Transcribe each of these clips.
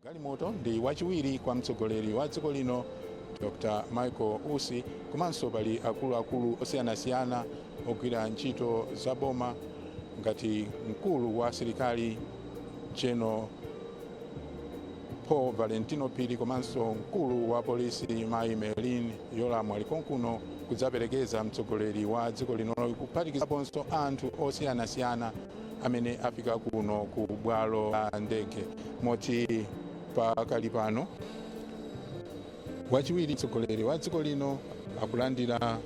galimoto ndi wachiwiri kwa mtsogoleri wa dziko lino dr michael usi komanso pali akuluakulu osiyanasiyana ogwira ntchito za boma ngati mkulu wa asilikali general paul valentino phiri komanso mkulu wa polisi mayi merlin Yolamu ali konkuno kudzaperekeza mtsogoleri wa dziko linoyu kuphatikizaponso anthu osiyanasiyana amene afika kuno ku bwalo la ndege moti pakali pano wachiwiri mtsogoleri wa dziko lino akulandira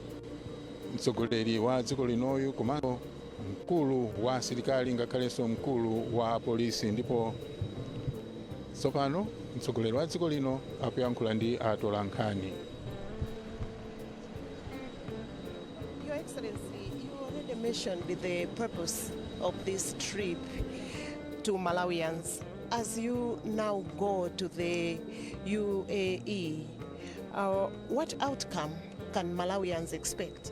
mtsogoleri wa dziko linoyu komanso mkulu wa asilikali ngakhalenso mkulu wa apolisi ndipo tsopano mtsogoleri wa dziko lino akuyankhula ndi atolankhani Your Excellency, you already mentioned the purpose of this trip to Malawians. As you now go to the UAE, uh, what outcome can Malawians expect?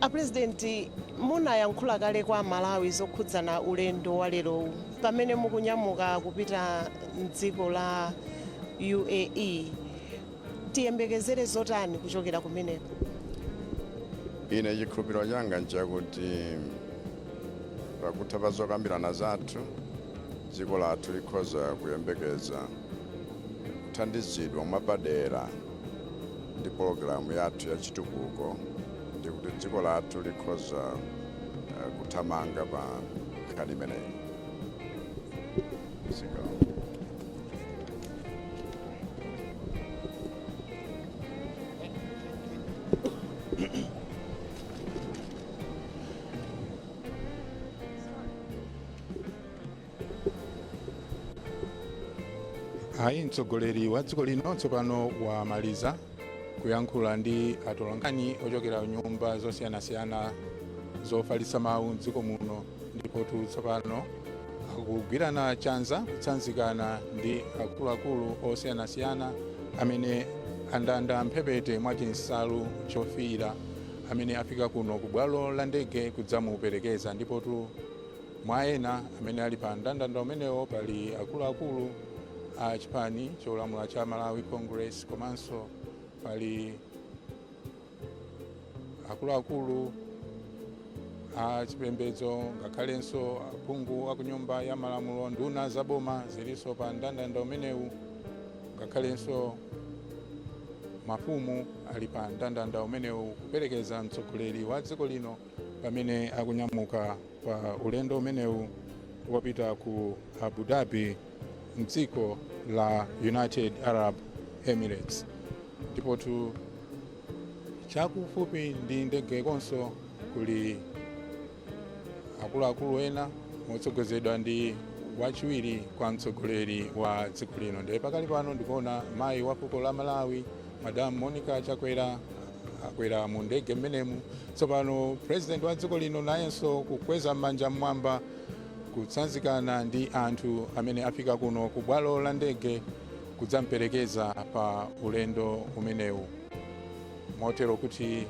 A president munayankhula kale kwa amalawi zokhudzana ulendo walerowu pamene mukunyamuka kupita mdziko la UAE. Tiyembekezere zotani kuchokera kumeneko? Ine chikhulupiriro changa nchakuti pakutha pa zokambirana zathu dziko lathu likhoza kuyembekeza kuthandizidwa mwapadera. ndi pologalamu yathu ya chitukuko ndi kuti dziko lathu likhoza eh, kuthamanga pa nkhani imeneyi Zikomo. ayi mtsogoleri wa dziko lino tsopano wamaliza kuyankhula ndi atolankhani ochokera nyumba zosiyanasiyana zofalitsa mawu mdziko muno ndipotu tsopano akugwirana chanza kutsanzikana ndi akuluakulu osiyanasiyana amene andanda mphepete mwa chinsalu chofiira amene afika kuno ku bwalo la ndege kudzamuperekeza ndipotu Mwa ena amene ali pa mndandanda umenewo pali akuluakulu a chipani cholamula cha Malawi Congress komanso pali akuluakulu a chipembedzo ngakhalenso aphungu a kunyumba ya malamulo. Nduna za boma zilinso pa mndandanda umenewu ngakhalenso mafumu ali pa mndandanda umenewu kuperekeza mtsogoleri wa dziko lino. pamene akunyamuka pa ulendo umenewu wopita ku abu dhabi mdziko la united arab emirates ndipotu chakufupi ndi ndege konso kuli akuluakulu ena motsogozedwa ndi wachiwiri kwa mtsogoleri wa dziko lino ndiye pakali pano ndikuona mayi wa fuko la malawi madamu monica chakwera akwera mu ndege mmenemu tsopano president wa dziko lino nayenso kukweza manja mmwamba kutsanzikana ndi anthu amene afika kuno ku bwalo la ndege kudzamperekeza pa ulendo umenewu motero kuti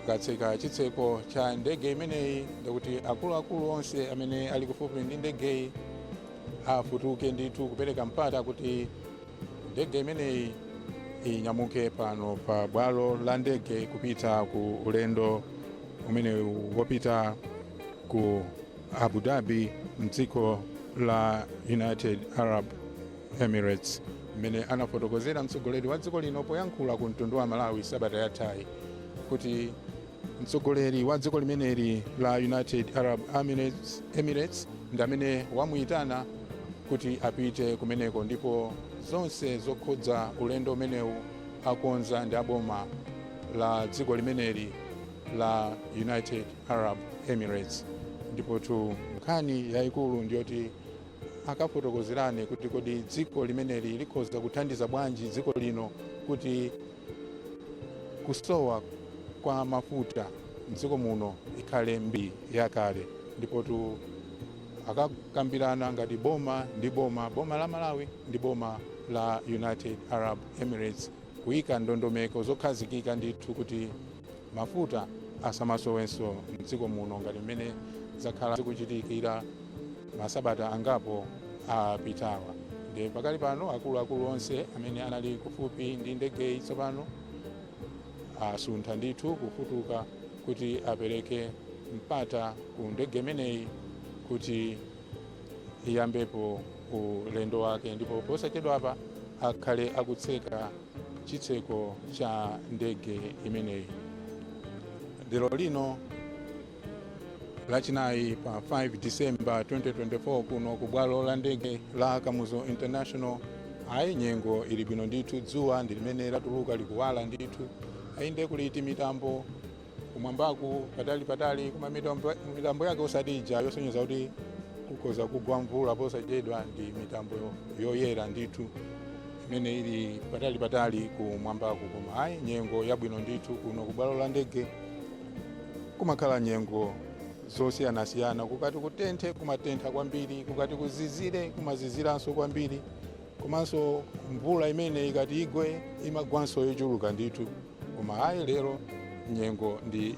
katseka chitseko cha ndege imeneyi ndikuti akuluakulu onse amene ali kufupi ndi ndegeyi afutuke ndithu kupereka mpata kuti ndege imeneyi inyamuke pano pa bwalo la ndege kupita ku ulendo umenewu wopita ku abu dhabi mdziko la united arab emirates mmene anafotokozera mtsogoleri wa dziko lino poyankhula ku mtundu wa malawi sabata yathayi kuti mtsogoleri wa dziko limeneli la united arab emirates ndi amene wamuyitana kuti apite kumeneko ndipo zonse zokhudza ulendo umenewu akonza ndi aboma la dziko limeneli la united arab emirates ndipotu nkhani yayikulu ndiyoti akafotokozerane kuti kodi dziko limeneli likhoza kuthandiza bwanji dziko lino kuti Kusowa kwa mafuta m'dziko muno ikhale mbiri yakale ndipotu akakambirana ngati boma ndi boma, boma la Malawi ndi boma la United Arab Emirates, kuika ndondomeko zokhazikika ndithu kuti Mafuta asamasowenso m'dziko muno ngati mmene zakhala zikuchitikira masabata angapo apitawa. Ndiye pakali pano akuluakulu onse amene anali kufupi ndi ndegeyi tsopano asuntha ndithu kufutuka kuti apereke mpata ku ndege imeneyi kuti iyambepo ulendo wake ndipo posachedwapa akhale akutseka chitseko cha ndege imeneyi lero lino lachinayi pa 5 disemba 2024 kuno ku bwalo la ndege la kamuzu international ayi nyengo ili bwino ndithu dzuwa ndi limene latuluka likuwala ndithu ayinde kuliti mitambo kumwambaku patali patali koma mitambo yake osati ija yosonyeza kuti kukhoza kugwa mvula posachedwa ndi mitambo yoyera ndithu imene ili patali patali kumwambaku koma ayi nyengo yabwino ndithu kuno kubwalo la ndege kumakhala nyengo zosiyanasiyana kukati kutenthe kumatentha kwambiri kukati kuzizire kumaziziranso kwambiri komanso mvula imene ikati igwe imagwanso yochuluka ndithu koma ayi lero nyengo ndi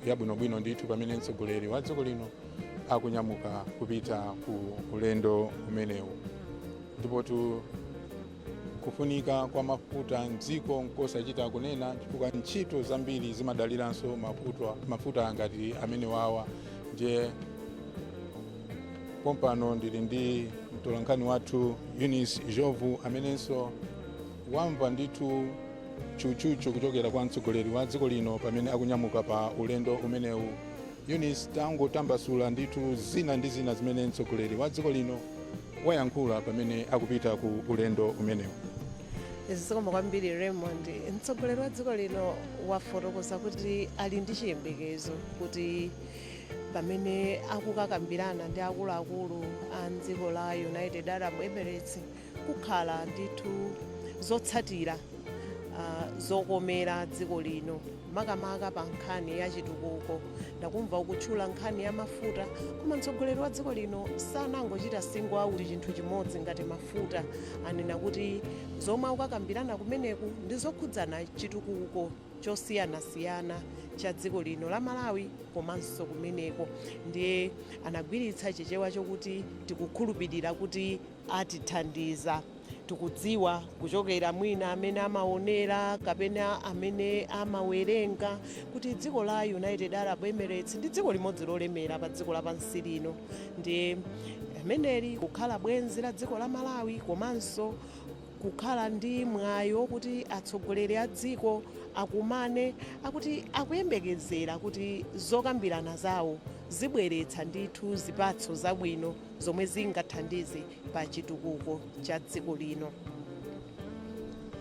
yabwinobwino ndithu pamene mtsogoleri wa dziko lino akunyamuka kupita ku ulendo umenewu ndipotu kufunika kwa mafuta mdziko nkosachita kunena chifukwa ntchito zambiri zimadaliranso mafuta ngati amene wawa ndiye pompano ndili ndi mtolankhani wathu eunice njovu amenenso Wamva ndithu tchutchutchu kuchokera kwa mtsogoleri wa dziko lino pamene akunyamuka pa ulendo umenewu. Eunice tangotambasula ndithu zina ndi zina zimene mtsogoleri wa dziko lino wayankhula pamene akupita ku ulendo umenewu. Zikomo kwambiri Raymond. Mtsogoleri wa dziko lino wafotokoza kuti ali ndi chiyembekezo kuti pamene akukakambirana ndi akuluakulu a mdziko la United Arab Emirates kukhala ndithu zotsatira uh, zokomera dziko lino makamaka pa nkhani ya chitukuko ndakumva ukutchula nkhani ya mafuta koma mtsogoleri wa dziko lino sanangochita single out chinthu chimodzi ngati mafuta anena kuti zomwe akukakambirana kumeneku ndi zokhudzana chitukuko chosiyanasiyana cha dziko lino la malawi komanso kumeneko ndiye anagwiritsa chichewa chokuti tikukhulupirira kuti atithandiza. Tikudziwa kuchokera mwina amene amaonera kapena amene amawerenga kuti dziko la United Arab Emirates ndi dziko limodzi lolemera pa dziko lapansi lino ndiye ameneli kukhala bwenzi la dziko la Malawi komanso kukhala ndi mwayi wokuti atsogoleri a dziko akumane akuti akuyembekezera kuti zokambirana zawo zibweretsa ndithu zipatso zabwino. zomwe zingathandize pa chitukuko cha dziko lino.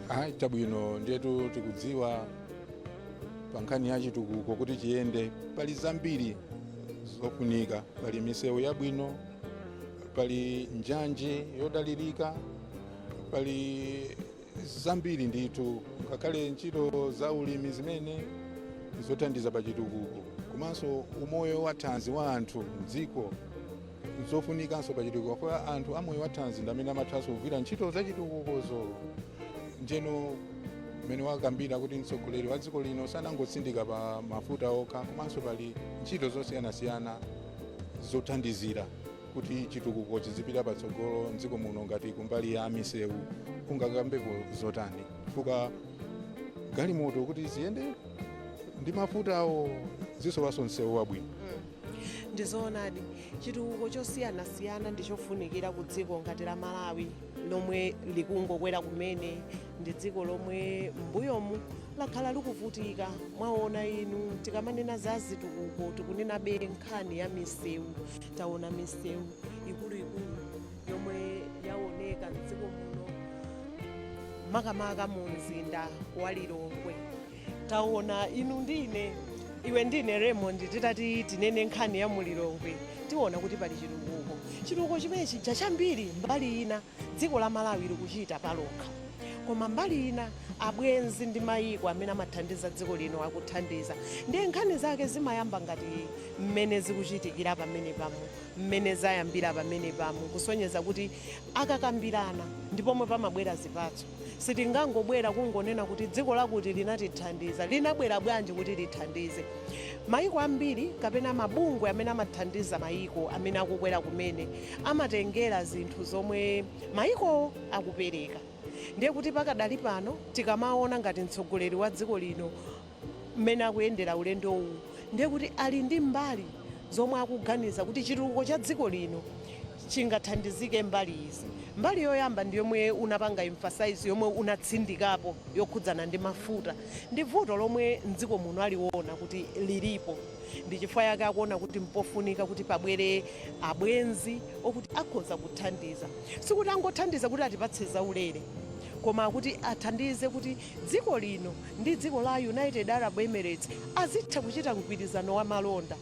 Ayi chabwino ndiyetu tikudziwa pa nkhani ya chitukuko kuti chiyende pali zambiri zofunika, pali misewu yabwino, pali njanji yodalirika, pali zambiri ndithu ngakhale ntchito za ulimi zimene zothandiza pa chitukuko komanso umoyo wa thanzi wa anthu mdziko zofunikanso pa chitukuko kwa anthu amoyo wa thanzi ndi amene amathanso kugwira ntchito za chitukukozo ndiyeno mmene wakambira kuti mtsogoleri wa dziko lino sanangotsindika pa mafuta okha komanso pali ntchito zosiyanasiyana zothandizira kuti chitukuko chizipita patsogolo mdziko muno ngati kumbali ya misewu ungakambeko zotani chifukwa galimoto kuti ziyende ndi mafutawo zisowanso msewu wabwino ndizoonadi chitukuko chosiyanasiyana ndi chofunikira ku dziko ngati la malawi lomwe likungokwera kumene ndi dziko lomwe mbuyomu lakhala likuvutika mwaona inu tikamanena za zitukuko tikunenabe nkhani ya misewu taona misewu ikuluikulu yomwe yaoneka mdziko muno makamaka mu mzinda wa lilongwe taona inu ndine iwe ndine raymond titati tinene nkhani ya mu lilongwe tiona kuti pali chitukuko chitukuko chimenechi chambiri mbali ina dziko la Malawi likuchita palokha. Koma mbali ina abwenzi ndi mayiko amene amathandiza dziko lino akuthandiza. Ndiye nkhani zake zimayamba ngati mmene zikuchitikira pamenepamo, mmene zayambira pamenepamo, kusonyeza kuti akakambirana ndi pomwe pamabwera zipatso. Sitingangobwera kungonena kuti dziko lakuti linatithandiza. Linabwera bwanji kuti lithandize? Mayiko ambiri kapena mabungwe amene amathandiza mayiko amene akukwera kumene. amatengera zinthu zomwe mayikowo akupereka. Ndiye kuti pakadali pano tikamaona ngati mtsogoleri wa dziko lino mmene akuyendera ulendo uwu ndiye kuti ali ndi mbali zomwe akuganiza kuti chitukuko cha dziko lino chingathandizike mbali izi. Mbali yoyamba ndi yomwe unapanga emphasize, yomwe unatsindikapo yokhudzana ndi mafuta. Ndi vuto lomwe m'dziko muno aliona kuti lilipo. Ndi chifukwa yake akuona kuti mpofunika kuti pabwere abwenzi okuti akhoza kuthandiza. Sikuti angothandiza kuti atipatse zaulere, koma kuti athandize kuti dziko lino ndi dziko la United Arab Emirates azitha kuchita mgwirizano wa malonda.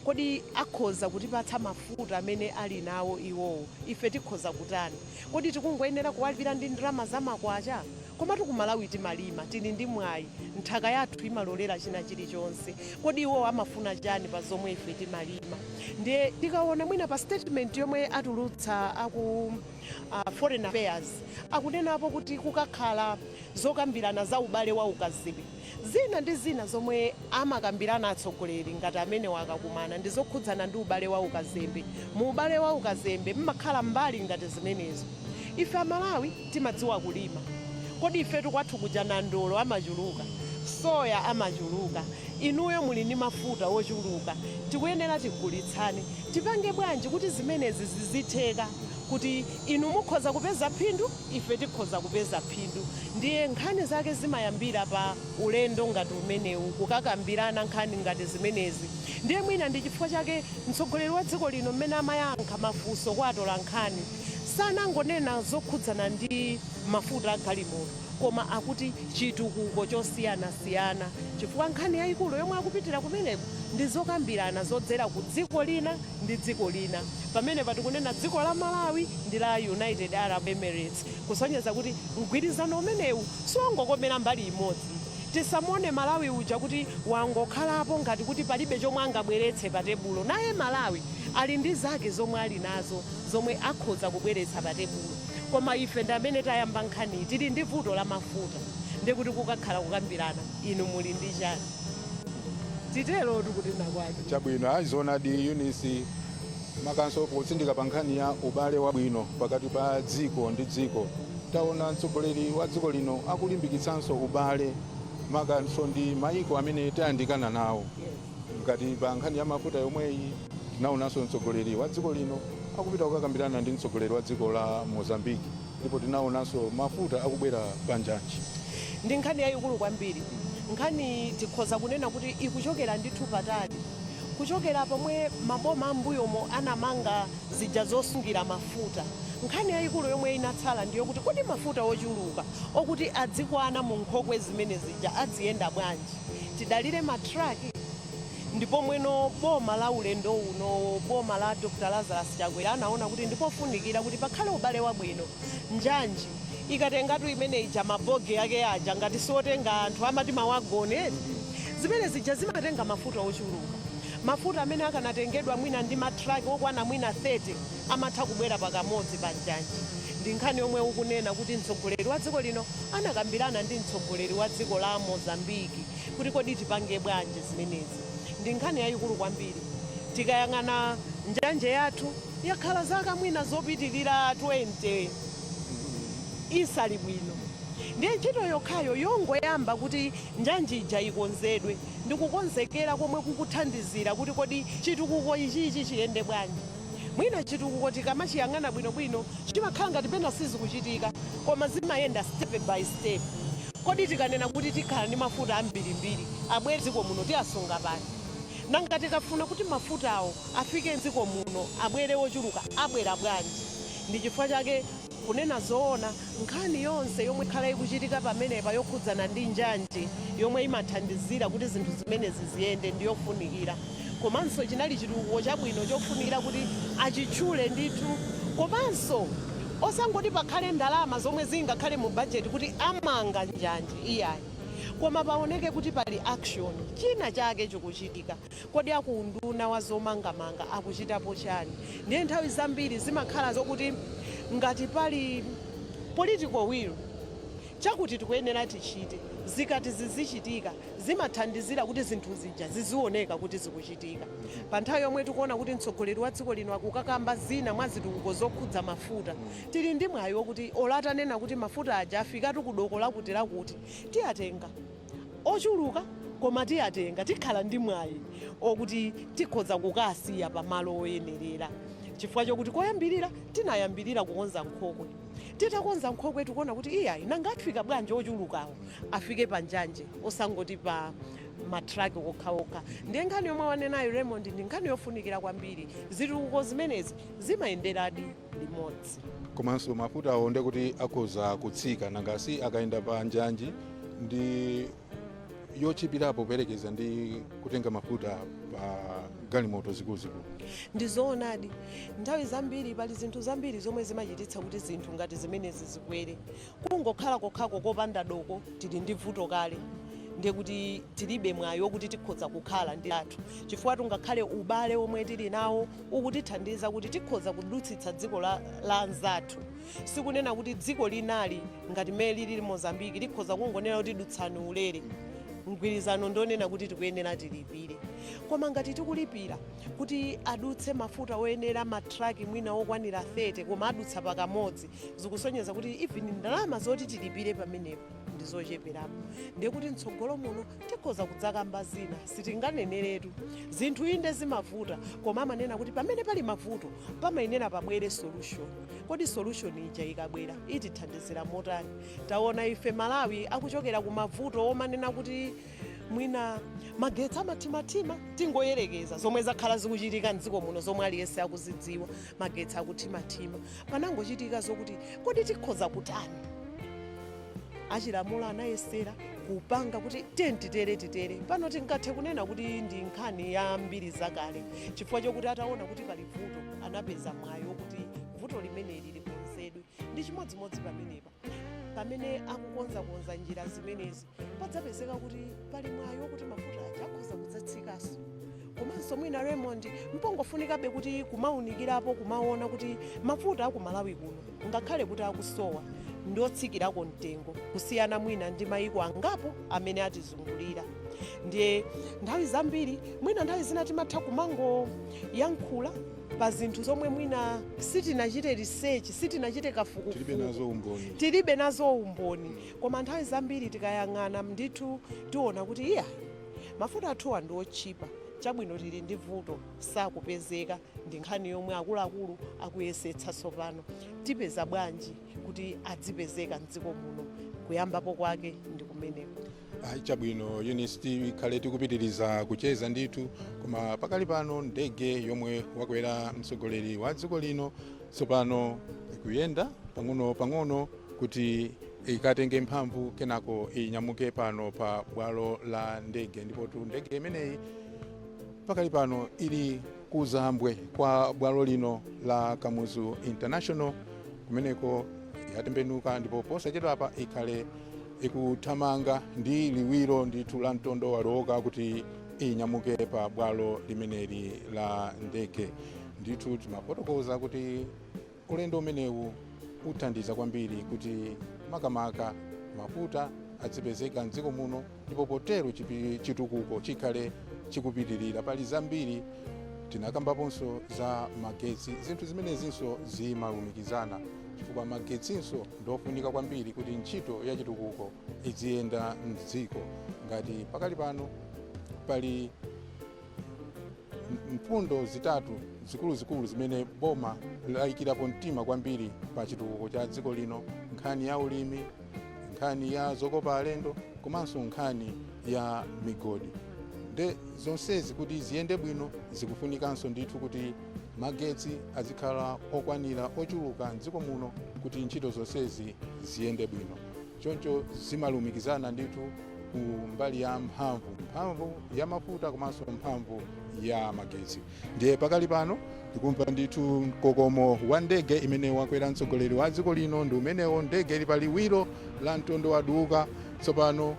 Kodi akhoza kutipatsa mafuta amene ali nawo iwowo? Ife tikhoza kutani? Kodi tikungoyenera kuwalipira ndi ndalama za makwacha? Komatu ku Malawi timalima, tili ndi mwayi, nthaka yathu imalolera china chilichonse. Kodi iwo amafuna chani pa zomwe ife timalima? Ndiye tikawona mwina pa statement yomwe atulutsa aku foreign affairs, akunenapo kuti kukakhala zokambirana za ubale wa ukazembe. Zina ndi zina zomwe amakambirana atsogoleri ngati amenewa akakumana ndi zokhudzana ndi ubale wa ukazembe. Mu ubale wa ukazembe mmakhala mbali ngati zimenezo. Ife Amalawi timadziwa kulima. Kodi ifetu kwathu kuja nandolo amachuluka, soya amachuluka, inuyo muli ndi mafuta ochuluka, tikuyenera tigulitsane. Tipange bwanji kuti zimenezi zizitheka kuti inu mukhoza kupeza phindu, ife tikhoza kupeza phindu. Ndiye, nkhani zake zimayambira pa ulendo ngati umenewu, kukakambirana nkhani ngati zimenezi. Ndiye mwina ndi chifukwa chake mtsogoleri wa dziko lino mmene amayankha mafunso kwa atolankhani, sanangonena zokhudzana ndi mafuta a galimoto, koma akuti chitukuko chosiyanasiyana, chifukwa nkhani yaikulu yomwe akupitira kumeneko ndi zokambirana zodzera ku dziko lina. ndi dziko lina. Pamenepa tikunena dziko la Malawi ndi la United Arab Emirates kusonyeza kuti mgwirizano umenewu siwongokomera mbali imodzi. Tisamuone Malawi uja kuti wangokhalapo ngati kuti palibe chomwe angabweretse pa tebulo. Naye Malawi ali ndi zake zomwe ali nazo zomwe akhoza kubweretsa pa tebulo. Koma ife ndi amene tayamba nkhaniyi. Tili ndi vuto la mafuta ndiye kuti kukakhala kukambirana inu muli ndi chani? titerotu kutenda kwake chabwino ayi zoonadi Eunice makanso potsindika pa nkhani ya ubale wabwino pakati pa dziko ndi dziko taona mtsogoleri wa dziko lino akulimbikitsanso ubale makanso ndi maiko amene tayandikana nawo ngati pa nkhani ya mafuta yomweyi tinaonanso mtsogoleri wa dziko lino akupita kukakambirana ndi mtsogoleri wa dziko la Mozambique Ndipo tinaonanso mafuta akubwera pa njanji. Ndi nkhani yayikulu kwambiri. Nkhaniyi tikhoza kunena kuti ikuchokera ndithu patali. Kuchokera pomwe maboma a m'mbuyomo anamanga zija zosungira mafuta, nkhani yayikulu yomwe inatsala ndi yokuti kodi mafuta ochuluka okuti adzikwana mu nkhokwe zimene zija adziyenda bwanji? Tidalire ma truck? Ndi pomweno boma la ulendo unowo, boma la Dr Lazarus Chakwera anaona kuti ndipofunikira kuti pakhale ubale wabwino. Njanji ikatengatu imene ija ma bogie ake aja ngati siotenga anthu amati ma wagon eti? Zimene zija zimatenga mafuta ochuluka. Mafuta amene akanatengedwa mwina ndi ma truck okwana mwina 30 amatha kubwera pakamodzi pa njanji. Ndi nkhani yomwe ukunena kuti mtsogoleri wa dziko lino anakambirana ndi mtsogoleri wa dziko la Mozambique. kuti kodi tipange bwanji zimenezi. Ndi nkhani yayikulu kwambiri. Tikayang'ana njanje yathu yakhala zaka mwina zopitirira 20 isali bwino. Ndiye ntchito yokhayo yongoyamba kuti njanji ija ikonzedwe ndi kukonzekera komwe kukuthandizira kuti kodi chitukuko ichichi chiyende bwanji. Mwina chitukuko tikamachiyang'ana bwinobwino chimakhala ngati pena sizikuchitika koma zimayenda step by step. Kodi tikanena kuti tikhala ndi mafuta ambirimbiri abwere m'dziko muno tiasunga pati? Nanga tikafuna kuti mafutawo afike m'dziko muno abwere ochuluka abwera bwanji? Ndi chifukwa chake. Kunena zoona, nkhani yonse yomwe ikhala ikuchitika pamenepa yokhudzana ndi njanje yomwe imathandizira kuti zinthu zimenezi ziyende ndi yofunikira komanso chinali chitukuko chabwino chofunikira kuti achitchule ndithu komanso osangoti pakhale ndalama zomwe zingakhale mu budget kuti amanga njanje iyayi koma paoneke kuti pali action, china chake chikuchitika. Kodi a ku unduna wa zomangamanga akuchitapo chani? Ndiye nthawi zambiri zimakhala zokuti ngati pali political will, chakuti tikuyenera tichite, zikati zizichitika zimathandizira kuti zinthu zija zizioneka kuti zikuchitika. Pa nthawi yomwe tikuona kuti mtsogoleri wa dziko lino akukakamba zina mwa zitukuko zokhudza mafuta, tili ndi mwayi wokuti olo atanena kuti mafuta aja afikatu ku doko lakutilakuti, tiyatenga. ochuluka koma tiyatenga tikhala ndi mwayi okuti tikhoza kukawasiya pamalo oyenerera chifukwa chokuti koyambirira tinayambirira kukonza nkhokwe titakonza nkhokwe tikuona kuti iyayi nanga afika bwanji ochulukawo afike pa njanje osangoti pa ma truck okha okha ndiye nkhani yomwe wanenayo Raymond ndi nkhani yofunikira kwambiri zitukuko zimenezi zimayenderadi limodzi. komanso mafutawo ndekuti akhoza kutsika nanga si akayenda pa njanje ndi yotchipirapo poyerekeza ndi kutenga mafuta pa galimoto zikuluzikulu ndi zoonadi nthawi zambiri pali zinthu zambiri zomwe zimachititsa kuti zinthu ngati zimenezi zikwere Kungokhala kokhako kopanda doko tili ndi vuto kale ndiye kuti tilibe mwayi wokuti tikhoza kukhala ndi athu chifukwatu ngakhale ubale womwe tili nawo ukutithandiza kuti tikhoza kudutsitsa dziko la, la anzathu sikunena kuti dziko lina ngati mmene lilili mozambiki likhoza kungonena kuti dutsani ulere mgwirizano ndi wonena kuti tikuyenera tilipire koma ngati tikulipira kuti adutse mafuta oyenera matraki mwina okwanira 30 koma adutsa pakamodzi zikusonyeza kuti even ndalama zoti tilipire pamenepo ndi zocheperapo ndiye kuti mtsogolo muno tikhoza kudzakamba zina sitinganeneretu zinthu inde zimavuta koma amanena kuti pamene pali mavuto pamayenera pabwere solution kodi solution ija ikabwera itithandizira motani taona ife malawi akuchokera ku mavuto omanena kuti mwina magetsi amathimathima tingoyerekeza zomwe zakhala zikuchitika mdziko muno zomwe aliyense akuzidziwa magetsi akuthimathima Panangochitika zokuti, kodi tikhoza kutani? Achi Ramuro anayesera kupanga kuti tiyeni titere titere. Pano tingathe kunena kuti ndi nkhani ya mbiri zakale chifukwa chokuti ataona kuti pali vuto anapeza mwayi wokuti vuto limeneli likonzedwe. Ndi chimodzimodzi pamenepa. pamene akukonzakonza njira zimenezi padzapezeka kuti pali mwayi wokuti mafuta aja akhoza kudzatsikanso komanso mwina raymond mpongofunikabe kuti kumaunikirapo kumaona kuti mafuta aku malawi kuno ngakhale kuti akusowa ndi otsikirako mtengo kusiyana mwina ndi mayiko angapo amene atizungulira ndiye nthawi zambiri mwina nthawi zina timatha kumangoyankhula pa zinthu zomwe mwina sitinachite research sitinachite kafukufuku tilibe nazo umboni koma nthawi zambiri tikayang'ana ndithu tiona kuti iyayi mafuta athuwa ndi otchipa chabwino tili ndi vuto sakupezeka ndi nkhani yomwe akuluakulu akuyesetsa tsopano tipeza bwanji kuti adzipezeka mdziko muno kuyambapo kwake ndi kumeneko Chabwino Eunice, tikhale tikupitiriza kucheza ndithu, koma pakali pano ndege yomwe wakwera mtsogoleri wa dziko lino tsopano ikuyenda pang'ono pang'ono kuti ikatenge mphamvu kenako inyamuke pano pa bwalo la ndege, ndipotu ndege imeneyi pakali pano ili kuzambwe kwa bwalo lino la kamuzu international kumeneko yatembenuka ndipo posachedwapa ikhale ikuthamanga ndi liwiro ndithu la mtondo wadooka kuti inyamuke pa bwalo limeneli la ndege ndithu timafotokoza kuti Ulendo umenewu uthandiza kwambiri kuti makamaka mafuta adzipezeka m'dziko muno ndipo potero chitukuko chikhale chikupitirira. Pali zambiri tinakambaponso za magetsi, zinthu zimenezinso zimalumikizana chifukwa magetsinso ndiofunika kwambiri kuti ntchito ya chitukuko idziyenda m'dziko. Ngati pakali pano pali mfundo zitatu zikuluzikulu zimene boma layikirapo mtima kwambiri pa chitukuko cha dziko lino nkhani ya ulimi nkhani ya zokopa alendo komanso nkhani ya migodi nde zonsezi kuti ziyende bwino zikufunikanso ndithu kuti magetsi azikhala okwanira ochuluka mdziko muno kuti ntchito zonsezi ziyende bwino choncho zimalumikizana ndithu ku mbali ya mphamvu mphamvu ya mafuta komanso mphamvu ya magetsi ndiye pakali pano tikumva ndithu mkokomo wa ndege imene wakwera mtsogoleri wa dziko lino ndi umenewo ndege ili pa liwiro la mtondo waduka tsopano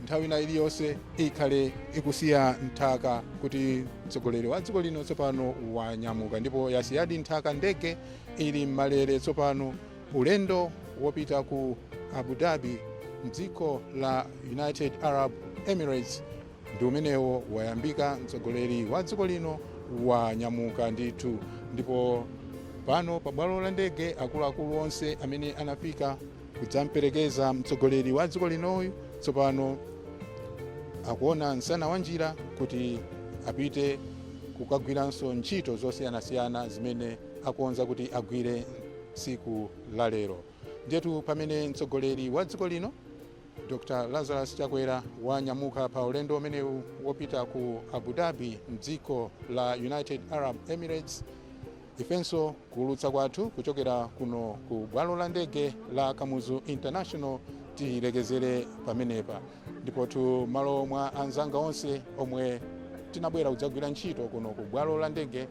nthawi ina iliyonse ikhale ikusiya nthaka kuti mtsogoleri wa dziko lino tsopano wanyamuka ndipo yasiyadi nthaka ndege ili m'malele tsopano Ulendo wopita ku Abu Dhabi mdziko la United Arab Emirates ndi umenewo wayambika mtsogoleri wa dziko lino wanyamuka ndithu ndipo pano pa bwalo la ndege akuluakulu onse amene anafika kudzamperekeza mtsogoleri wa dziko linoyu tsopano akuona msana wa njira kuti apite kukagwiranso ntchito zosiyanasiyana zimene akonza kuti agwire tsiku la lero ndiyetu pamene mtsogoleri wa dziko lino dr lazarus chakwera wanyamuka pa ulendo umenewu wopita ku abu dhabi mdziko la united arab emirates ifenso kuulutsa kwathu kuchokera kuno ku bwalo la ndege la kamuzu international tilekezere pamenepa ndipotu malo mwa anzanga onse omwe tinabwera kudzagwira ntchito kuno ku bwalo la ndege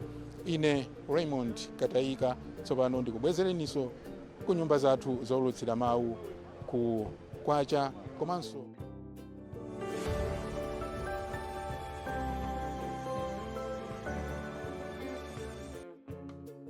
ine raymond katayika tsopano ndikubwezereninso ku nyumba zathu zoulutsira mawu ku kwacha komanso